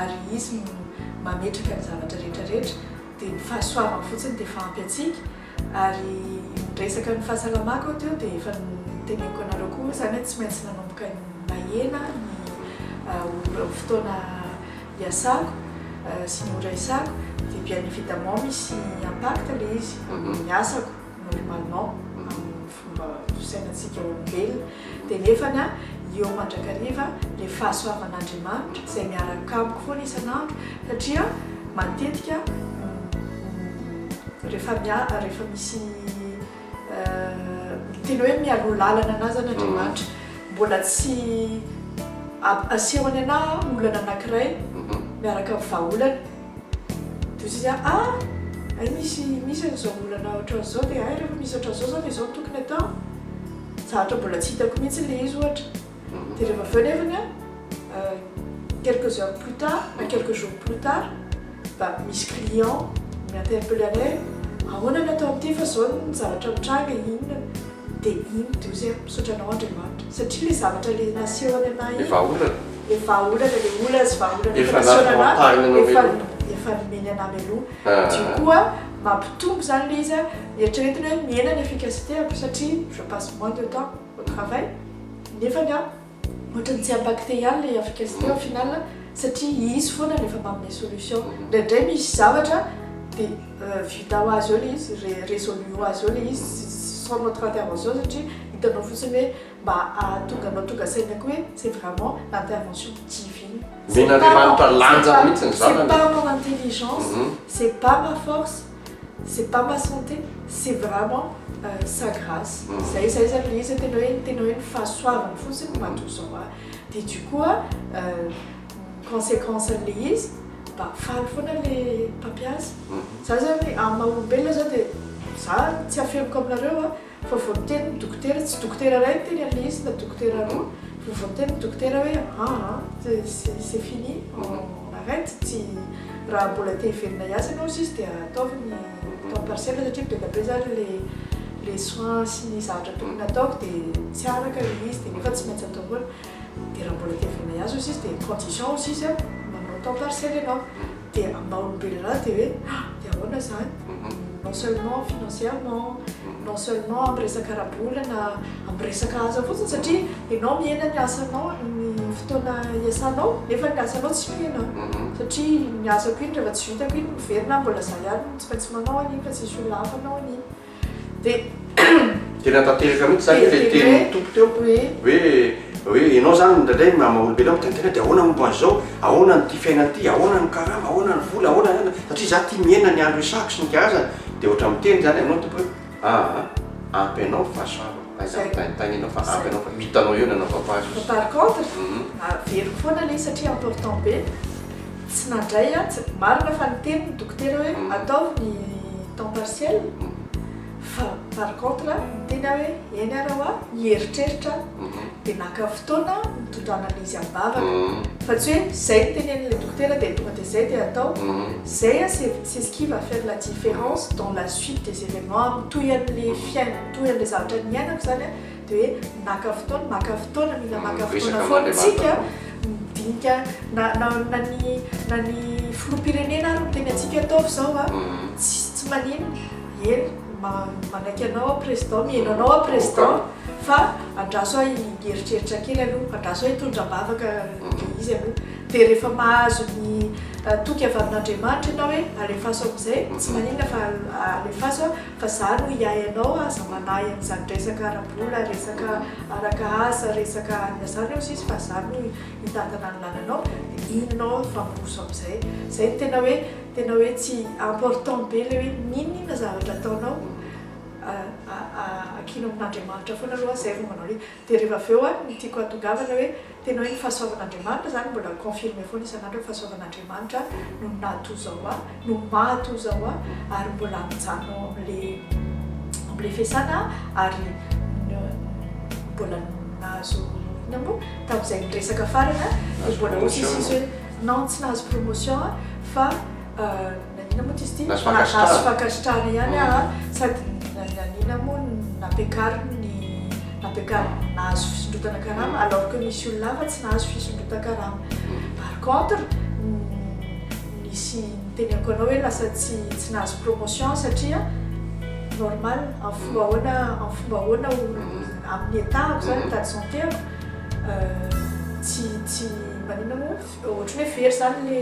ary Izy no mametraka ny zavatra rehetra rehetra dia ny fahasoavany fotsiny dia efa ampy antsika. Ary niresaka ny fahasalamako aho teo dia efa noteneniko anareo koa izany hoe tsy maintsy nanomboka nahena ny ora fotoana iasako sy ny ora isako dia bien évidemment misy impact ilay izy amin'ny asako normalement amin'ny fomba fisainantsika olombelona, dia nefana eo mandrakariva le fahasoavan'Andriamanitra izay miaraka amiko foana isan'andro satria matetika rehefa miala rehefa misy tena hoe mialoha lalana anah zany Andriamanitra mbola tsy asehony anah olana anankiray miaraka amin'ny vahaolana Dozia A, Hay misy misy an'izao olana ohatran'izao dia hay rehefa misy ohatran'izao izao dia izao no tokony atao. Za ohatra mbola tsy hitako mihitsy ilay izy ohatra. Dia rehefa avy eo nefany an, quelques heures plus tard na quelques jours plus tard, mba misy client mi-interpeller anay hoe ahoana ny atao amin'ity fa izao ny zavatra mitranga e, inona. Dia iny Dozia a, misaotra anao Andriamanitra satria ilay zavatra ilay naseho any anay iny. Ny vahaolana. le vahaolana le olana sy vahaolana efa nampaharinana efa efa nomeny an'ahy mialoha du coup a mampitombo zany le izy a eritreretina hoe mihena ny efficacité-ako satria je passe moins de temps au travail nefany a ohatran'ny tsy impacté ihany le efficacité au final satria izy foana no efa manome solution ndraindray misy zavatra de vita ho azy eo le izy résolu ho azy eo le izy sans notre intervention satria hitanao fotsiny hoe mba ahatonga anao tonga saina koa hoe c'est vraiment l'intervention divine. Omen'Andriamanitra lanjany mihitsy ny zanany e! C'est pas mon intelligence, c'est pas ma force, c'est pas ma santé, c'est vraiment sa grâce, zay zay zany le izy hoe tena hoe tena hoe ny fahasoavany fotsiny no mahatonga izao ahy, dia du coup ny consequence an'le izy mba faly foana le mpampiasa, za zany amin'ny maha olombelona zao dia za tsy afeniko aminareo a! Fa vao niteny ny dokotera, tsy dokotera iray niteny an'ilay izy na dokotera roa, fa vao niteny ny dokotera hoe aa, c'est fini, on arrête, tsy, raha mbola te hivelona hiasa ianao hozy izy dia ataovy ny temps partiel satria be dia be izany ilay ilay soins sy ny zavatra tokony hataoko dia tsy araka ilay izy dia nefa tsy maintsy atao foana, dia raha mbola te hivelona hiasa hozy izy dia condition hozy izy an, manao temps partiel ianao, dia ambaon'ny Bel'Ra dia hoe ha! dia ahoana izany? non seulement financièrement, non seulement amin'ny resaka ara-bolana, amin'ny resaka asa fotsiny satria ianao mihena ny asanao, ny fotoana iasanao nefa ny asanao tsy mihena satria ny asako iny rehefa tsy vitako iny miverina aho mbola izaho ihany no tsy maintsy manao an'iny fa tsy misy olona hafa hanao an'iny. Dia natanteraka mihitsy izany ilay tenin'ny Tompo teo hoe hoe ianao izany indraindray ny maha olombelona miteny tena dia ahoana ny momba an'izao, ahoana an'ity fiainana ity, ahoana ny karama, ahoana ny vola, ahoana ny satria izaho ity miaina ny andro isako sy ny karazany dia ohatra miteny izany aminao ny Tompo hoe aa ampy anao fa saro aiza mitaintaina ianao fa ampy anao fa hitanao eo ny anaovako azy. Par contre averiko foana ilay izy satria important be. Tsy nadray atsy, marina fa niteny ny dokotera hoe ataovy ny temps partiel fa par contre niteny aho hoe eny ara hoa mieritreritra aho dia naka fotoana nitondra analyse am-bavaka fa tsy hoe zay nitenenin'ilay dokotera dia tonga dia zay dia atao zay a c'est c'est ce qui va faire la différence dans la suite des événements mitohy an'ilay fiainana mitohy an'ilay zavatra niainako zany a Dia hoe maka fotoana, maka fotoana, mila maka fotoana foana isika midinika na na na ny na ny filoham-pirenena ary miteny antsika ataovy izao a, tsy tsy maninona, eny manaiky anao aho président, mihaino anao aho président fa andraso ahy hieritreritra kely aloha, andraso ahy hitondra am-bavaka ilay izy aloha, dia rehefa mahazo ny toky avy amin'Andriamanitra ianao hoe alefaso amin'izay, tsy maninona fa alefaso a. Fa za no hiahy anao aza manahy an'izany resaka ara-bola, resaka araka asa, resaka anona zany eo sisa fa za no hitantana ny lalanao de inona aho hifamoroso amizay. Zay no tena hoe tena hoe tsy important be le hoe n'inon'inona zavatra ataonao a a a akino amin'Andriamanitra foana aloha zay vao manao le Dia rehefa avy eo an, ny tiako hahatongavana hoe, tena hoe ny fahasoavan'Andriamanitra izany mbola confirme foana isan'andro hoe fahasoavan'Andriamanitra no natoa zao ahy, no mahatoa zao ahy, ary mbola mijanona ao amin'le amin'le fiasana aho, ary mbola nahazo inona moa, tamin'izay niresaka farany an, dia mbola hoy sisisy hoe non tsy nahazo promotion aho fa Naniana moa izy ity Nasy Fakasitrary. Nasy Fakasitrary ihany a, mm. sady naniana moa nampiakariny ny nampiakariny nahazo fisondrotana karama mm. alors que nisy olona hafa tsy nahazo fisondrotan-karama. Mm. Par contre, nisy niteneko anao hoe lasa tsy tsy nahazo promotion satria normal en fomba ahoana en fomba ahoana amin'ny état ako zany état de santé ako euh, tsy tsy manina moa ohatry hoe very zany le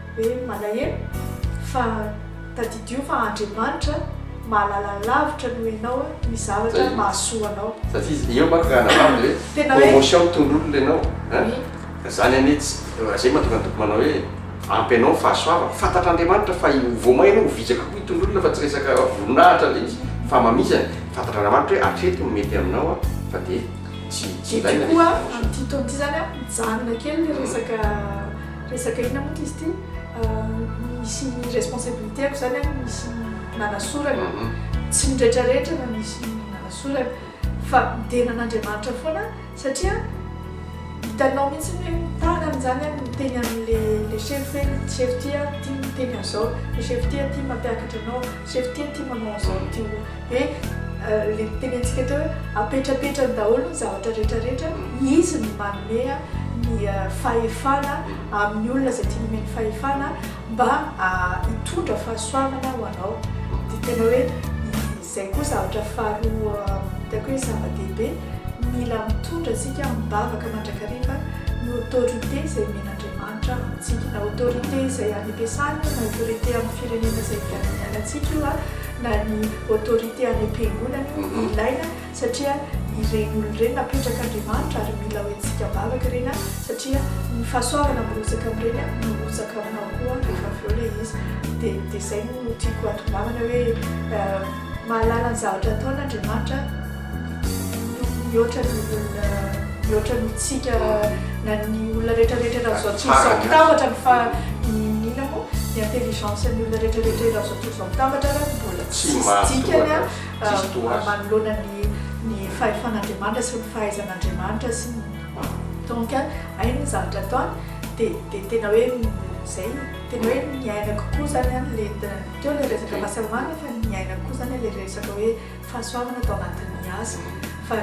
Hoe malahelo? Fa tadidio fa Andriamanitra mahalala lavitra noho ianao ny zavatra mahasoa anao. Fa izy eo manko raha hanambara dia hoe promotion tondroin'olona ianao an! Ka izany anie tsy, izay mahatonga ny Tompo manao hoe ampy anao ny fahasoavako. Fantatr'Andriamanitra fa ho voamay ianao, ho vizaka koa i tondroin'olona fa tsy resaka voninahitra indray izy fa mamizana. Fantatr'Andriamanitra hoe hatreto no mety aminao an! Fa dia tsy ilaina ilay voninahitra. Dia koa amin'ity taona ity izany an, mijanona kely ilay resaka. Resaka inona moa izy ity? Misy ny responsabilité-ko izany an, misy ny nanasorana. Tsy ny rehetrarehetra no misy ny nanasorana. Fa midera an'Andriamanitra foana satria hitanao mihitsy ny hoe mitana an'izany an, miteny amin'ilay sefo hoe ity sefo ity an, ity miteny an'izao, ilay sefo ity an, ity mampiakatra anao, sefo ity an, ity manao an'izao, ity hono. Dia ilay nitenentsika teo hoe apetrapetrany daholo ny zavatra rehetra rehetra, izy no manome ny fahefana amin'ny olona izay tiany omeny fahefana mba hitondra fahasoavana ho anao. Dia tena hoe izay koa zavatra faharoa hitako hoe zava-dehibe, mila mitondra isika mivavaka mandrakariva ny autorité izay omen'Andriamanitra antsika, na autorité izay any am-piasana io, na autorité amin'ny firenena izay hifianantsika io. na ny autorité any am-piangonana io ilaina satria ireny olona ireny napetrak'Andriamanitra ary mila hoentintsika am-bavaka ireny an, satria ny fahasoavana mirotsaka amin'ireny an no mirotsaka aminao koa rehefa avy eo ilay izy, dia dia izay no tiako hatongavanao hoe mahalala ny zavatra ataony Andriamanitra, Mihoatra ny olona, mihoatra ny tsika na ny olona rehetra rehetra eran'ny zao tontolo zao mitambatra ny fa inona moa ny intelligence ny olona rehetra rehetra eran'ny zao tontolo zao mitambatra ary ny mbola tsisy dikany a manoloana ny ny fahefan'Andriamanitra sy ny fahaizan'Andriamanitra sy ny donc hainy ny zavatra ataony dia dia tena hoe izay tena hoe ny aina kokoa zany a le teo le resaka fahasalamana fa ny aina kokoa zany le resaka hoe fahasoavana tao anatin'ny asako fa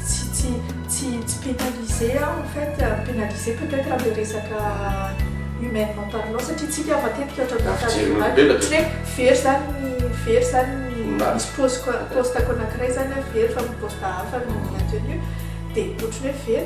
tsy tsy tsy tsy pénaliser aho en fait pénaliser peut être amle resaka humainement parlant satria tsy hitiava tetika ohatra ny Raha fijery olombelona tsy hoe very zany ny very zany ny misy pôsiko pôstako anakiray zany hoe very fa poste hafa no maintenu dia ohatry ny hoe very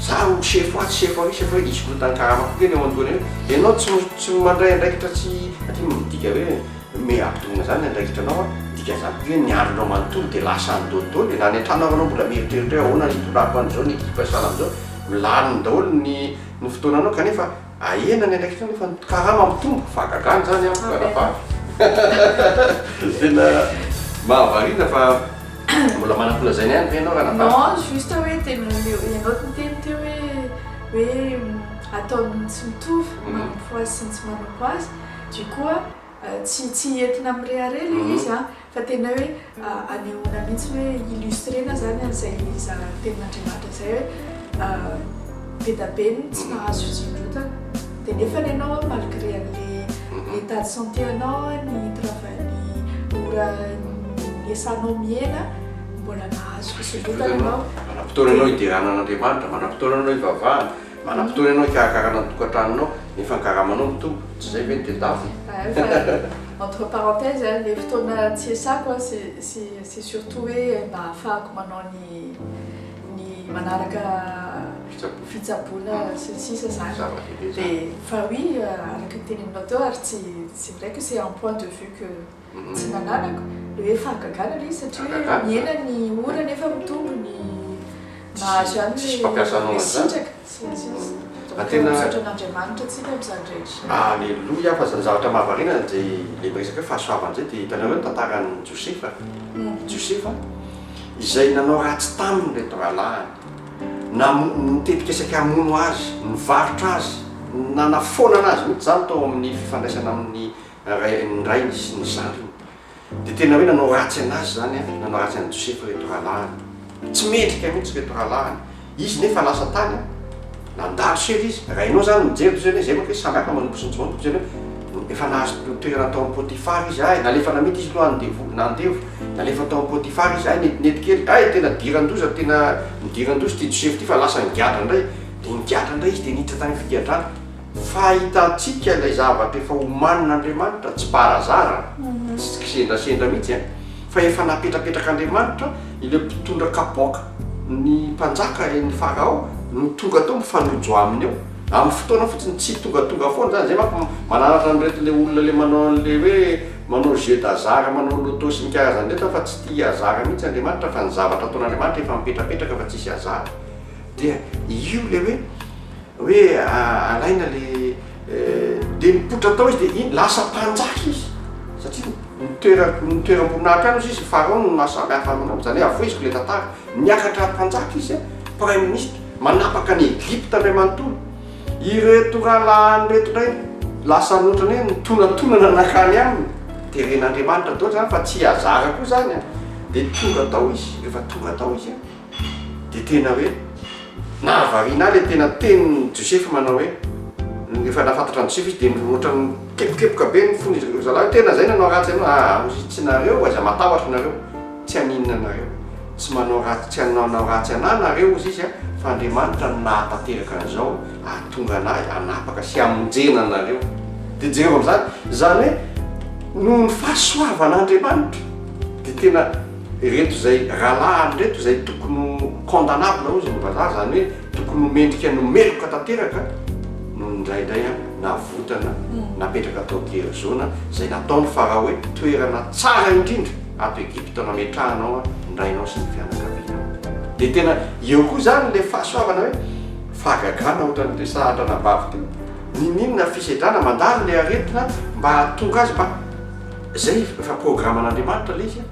Za olo sefo atsy sefo ary sefo ary izy korontany karama koa kely eo antoana eo ianao tsy tsy mandray andraikitra tsy aty midika hoe me ampitoviana zany ny andraikitra anao an midika zany koa ve ny andronao manontolo de lasa any dôly dôly na any antrano ary anao mbola mieritreritra hoe ahoana ny hitondrako an'izao ny ekipa sahala am'zao milaniny daholo ny ny fotoananao kanefa Ahena ny andraikitra nefa ny karama mitombo. Fahagagana izany amiko ranabavy. Tena mahavariana fa mbola manam-pola izay ihany ve ianao ranabavy? Non, juste hoe tena ianao niteny teo hoe hoe ataon'ny tsy mitovy ny manompo azy sy ny tsy manompo azy du coup tsy tsy entina mirehareha ilay izy an! Fa tena hoe anehoana mihitsy hoe illustrena zany an'izay zara tenin'Andriamanitra izay hoe be da be ny tsy mahazo fisondrotana dia nefany ianao malgré an'ilay état de santé anao ny travail ny ora niesanao miena mbola mahazo fisondrotana ianao. Manam-potoana anao hiderana an'Andriamanitra, manam-potoana anao hivavahana. Manam-potoana ianao hikarakarana ny tokantranonao nefa ny karamanao mitombo, tsy izay ve ny teny lava e? Hay fa entre parenthèses a, le fotoana tsy iasako a c'est surtout hoe mba ahafahako manao ny ny manaraka fitsaboana sy ny sisa zany. Zava-dehibe zany. Fa oui araka ny teneninao teo ary tsy tsy miraiko c'est un point de vue que Tsy nananako hoe fahagagana ilay izy satria mihena ny ora nefa mitombo ny mahazo ihany Tsisy mpampiasa anao ilay an'izany. sitraka. Tsy misy izy. Fa tena- Misaotra an'Andriamanitra antsika amin'izany rehetra. Aleloia fa zany zavatra mahavariana zay le miresaka hoe fahasoavana zay de hitanareo ny tantaran'i Josefa? Josefa izay nanao ratsy taminy reto rahalahiny, namo- nitetikesaka hamono azy, nivarotra azy, nanafoanana azy mihitsy zany tao amin'ny fifandraisana amin'ny rairin'ny rainy sy ny zandriny. Dia tena hoe nanao ratsy anazy izany an, nanao ratsy an'i Josefa ireto rahalahiny. Tsy mendrika mihitsy ireto rahalahiny. Izy nefa lasa tany an, nandalo seza izy. Rainao izany no mijery toy izay hoe izay manko izy samy hafa manompo sy mijoro toy izay hoe efa nahazo toerana tao amin'i Potifara izy. Hay, nalefa namita izy aloha andevo, nandevo, nalefa tao amin'i Potifara izy. Hay, netinety kely. Hay, tena diran-doza, tena nidiran-doza ity Josefa ity fa lasa nigadra indray. Dia nigadra indray izy dia niditra tany am-pigadrana. Fahitantsika ilay zavatra efa omanin'Andriamanitra, tsy par hasard an, tsy kisendrasendra mihitsy an, fa efa napetrapetrak'Andriamanitra ilay mpitondra kapoaka, ny mpanjaka eny Farao no tonga tao mifanojo aminy eo, amin'ny fotoana fotsiny, tsy tongatonga foana izany, izay manko mananatra an'ireto ilay olona ilay manao an'ilay hoe manao jeu d'hasard manao loto sy ny karazany ireto an, fa tsy tia hasard mihitsy Andriamanitra, fa ny zavatra ataon'Andriamanitra efa mipetrapetraka fa tsisy hasard. Dia io le hoe hoe alaina le dia mipoitra tao izy dia iny lasa mpanjaka izy satria nitoera nitoeram-boninahitra any izy izy Farao no mahasamy hafa aminao izany hoe avoiziko le tantara niakatra mpanjaka izy prime ministre manapaka ny Egypta indray manontolo ireto rahalahiny reto indray lasa notrany hoe nitonantonana nakany aminy teren'Andriamanitra daholo izany fa tsy hazara koa izany dia tonga tao izy rehefa tonga tao izy dia tena hoe nahavariana ahy ilay tena tenin'i Josefa manao hoe rehefa nahafantatra an'i Josefa izy dia ohatran'ny nikepokepoka be ny fony izy ry zalahy hoe tena izay nanao ratsy anao ah amositsinareo aiza matahotra nareo tsy haninona anareo tsy manao ratsy tsy hanao ratsy anah nareo hozy izy ah fa Andriamanitra no nahatanteraka an'izao ahatonga anah hanapaka sy hamonjena anareo dia jereo amin'izany izany hoe noho ny fahasoavan'Andriamanitra dia tena Ireto izay rahalahiny ireto izay tokony ho condamnable hozy ny vazaha, izany hoe tokony ho mendrika ny meloka tanteraka no indraindray navotana napetraka tao Gerizona izay nataon'i Farao hoe toerana tsara indrindra ato Egypta nametrahana ao ny rainao sy ny fianakavianao. Dia tena eo koa izany ilay fahasoavana hoe fahagagana ohatran'ny resahatra anabavy teo. Niniana fisedrana mandalo ilay aretina mba hahatonga azy mba. Zay efa programan'Andriamanitra le izy a!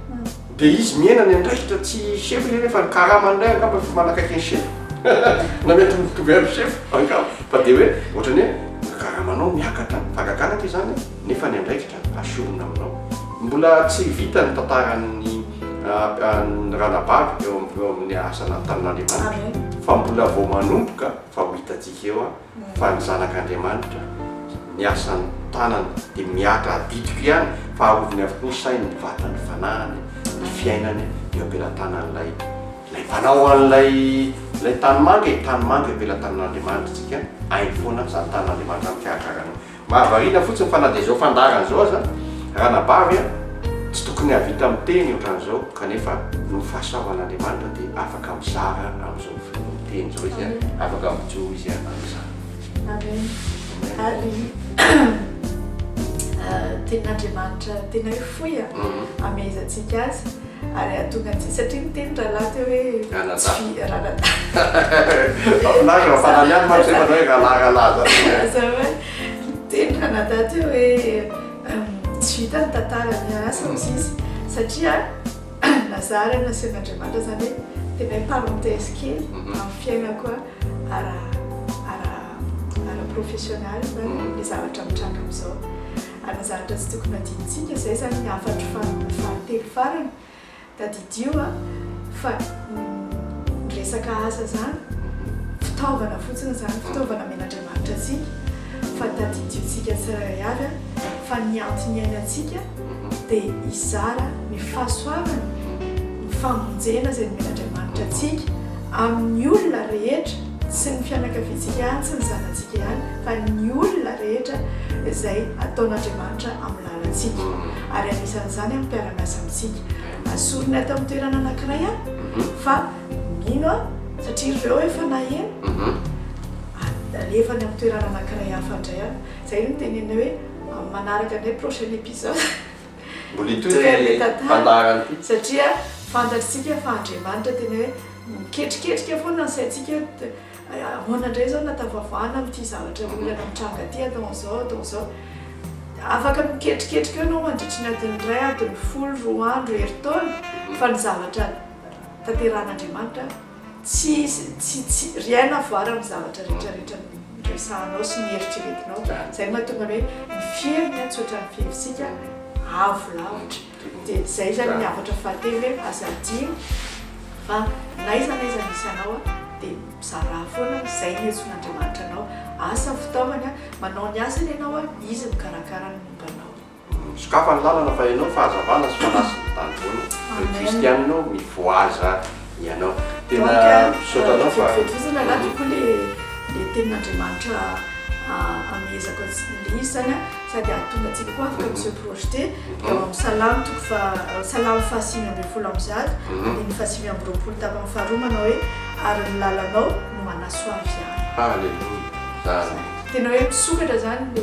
Dia izy miaina ny andraikitra tsy chef izy nefa ny karama indray angamba efa manakaiky ny chef na mitovitovy amin'ny chef angamba fa dia hoe ohatran'ny hoe karamanao miakatra ny fagagana aty izany nefa ny andraikitra asorina aminao. Mbola tsy vita ny tantaran'ny an'i Ranabavy eo amin'ny asa natan'Andriamanitra fa mbola vao manomboka fa ho hitantsika eo fa ny zanak'Andriamanitra, ny asan'ny tanany dia mihatra adidiko ihany fa aroviny avokoa ny sainy, ny vatany, ny fanahiny, ny fiainany eo am-pelatanan'ilay ilay mpanao an'ilay ilay tanimanga e, tanimanga eo am-pelatanan'Andriamanitra tsika, hainy foana izany tanan'Andriamanitra mikarakara anao. Mahavariana fotsiny fa na dia izao fandaharana izao aza, ranabavy a, tsy tokony hahavita miteny ohatran'izao, kanefa noho ny fahasoavan'Andriamanitra dia afaka mizara amin'izao fiteny izao izy a, afaka mijoro izy a, amin'izany. Amen. Ary Tenin'Andriamanitra tena hoe fohy a, amehezantsika azy. Ary hahatonga antsika, satria niteny rahalahy teo hoe Ranadahy. tsy fi- ranadahy. Mahafinaritra raha fanana ihany manko izay manao hoe rahalahy rahalahy zany. Aza hoe niteny ranadahy teo hoe hum, tsy vita ny tantara miasa hoy izy satria nazary ary nasehon'Andriamanitra zany hoe tena hoe parenthèse kely Mhm. amin'ny fiainako a, ara ara ara-professionnel zany Mhm. ny zavatra mitranga amin'izao. Ary ny zavatra tsy tokony hadinontsika izay izany ny hafatro fahatelo farany. Tadidio fa ny resaka asa izany fitaovana fotsiny izany, fitaovana amen'Andriamanitra antsika, fa tadidiontsika tsirairay avy fa ny antony iainantsika dia hizara ny fahasoavany, ny famonjena izay nomen'Andriamanitra antsika amin'ny olona rehetra. Tsy ny fianakaviantsika ihany, tsy ny zanatsika ihany, fa ny olona rehetra izay ataon'Andriamanitra amin'ny lalantsika, ary anisan'izany amin'ny mpiara-miasa amintsika. Asoriny ato amin'ny toerana anankiray aho fa mino aho, satria ireo efa naheno, alefany amin'ny toerana anankiray hafa indray aho. Izay no nitenenina hoe amin'ny manaraka indray, prochain episode. Mbola hitohy ity Toy ny tantara fandaharana ity. satria fantatr'isika fa Andriamanitra tena hoe miketriketrika foana ny saintsika hoe t- ahoana indray izao no ahatafavoahana amin'ity zavatra olana mitranga ity atao an'izao atao an'izao. Afaka miketriketrika eo ianao mandritry ny adiny iray, adiny folo, roa andro, herintaona fa ny zavatra tanterahan'Andriamanitra Tsy, tsy, tsy, rien à voir amin'ny zavatra rehetra rehetra noresahanao sy nieritreretinao, izay no mahatonga hoe ny fiheviny an tsy ohatran'ny fihevintsika, avo lavitra, dia izay izany ny avatra fahatelo hoe aza adino fa n'aiza n'aiza misy anao an dia mizarà foana an izay no iantsoan'Andriamanitra anao, asa ny fitaovany an, manao ny asany ianao an, izy mikarakara ny momba anao. Misokafa ny lalana fa ianao fahazavana sy fanasiny ny tany foana Ry kristianina ô mivoaza ianao Tena misaotra anao fa Vetozana angaha tokoa le le tenin'Andriamanitra amehezako antsika le izy zany a sady ahatonga antsika koa afaka mi se projeter eo amin'ny salamo toko faha salamo fahasimy ambin'ny folo amby zato andininy fahasivy amby roapolo tapany faharoa manao hoe ary ny lalanao no manasoavy ahy. Haleloia! Zany. Tena hoe misokatra zany le.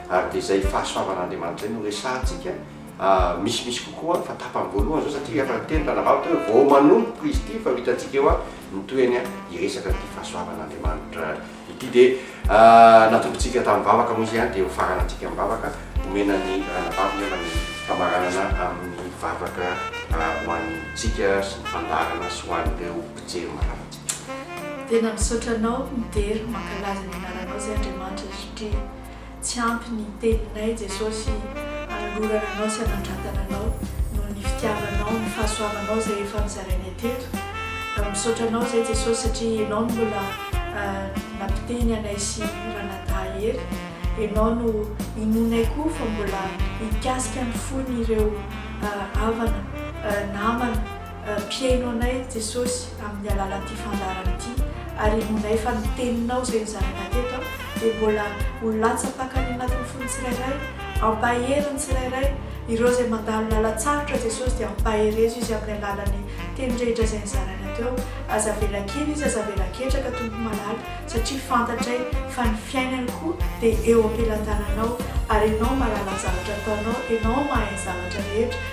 ary dia izay fahasoavan'Andriamanitra izay no resahantsika misimisy kokoa fa tapany voalohany izao satria efa niteny tana vavaka hoe vao manomboka izy ity fa ho hitantsika eo ny tohiny hiresaka ity fahasoavan'Andriamanitra ity dia natombotsika tamin'ny vavaka moa izy ihany dia ho farana antsika amin'ny vavaka omena ny ranavavy nefa ny famaranana amin'ny vavaka ho antsika sy ny fandaharana sy ho an'ireo mpijery mararintsika. Tena misaotra anao midera mankalaza ny anaranao izay Andriamanitra satria Tsy ampy ny teninay Jesosy anolorana Anao sy anandratana Anao noho ny fitiavanao, ny fahasoavanao izay efa nozarainay teto. Misaotra Anao izay Jesosy satria Enao no mbola nampiteny anay sy Ranadahy Hery. Enao no inoanay koa fa mbola hikasika ny fon'ireo havana, namana, Ampihaino anay, ry Jesosy, amin'ny alalan'ity fandaharana ity, ary inoanay fa ny Teninao izay nozaraina teto dia mbola ho latsa-pakany anatin'ny fon'ny tsirairay. Ampahery ny tsirairay. Ireo izay mandalo lalan-tsarotra, Jesosy, dia ampaherezo izy amin'ny alalan'ny Teny rehetra izay nizaraina teo. Aza avela kely izy, aza avela ketraka, Tompo malala, satria fantatray fa ny fiainany koa dia eo am-pelantananao, ary Ianao malala ny zavatra ataonao, Ianao mahay ny zavatra rehetra.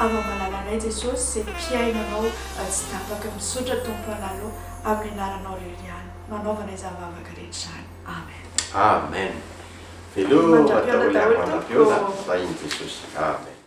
Ava malalanay Jesosy zay mpihaino anao tsy tapaka misotra Tompo analo aminy anaranao rery ihany no anaovana izany vavaka rehetra izany Amen. Amen veloo daholo Amen mandra-piona daholo Jesosy Amen.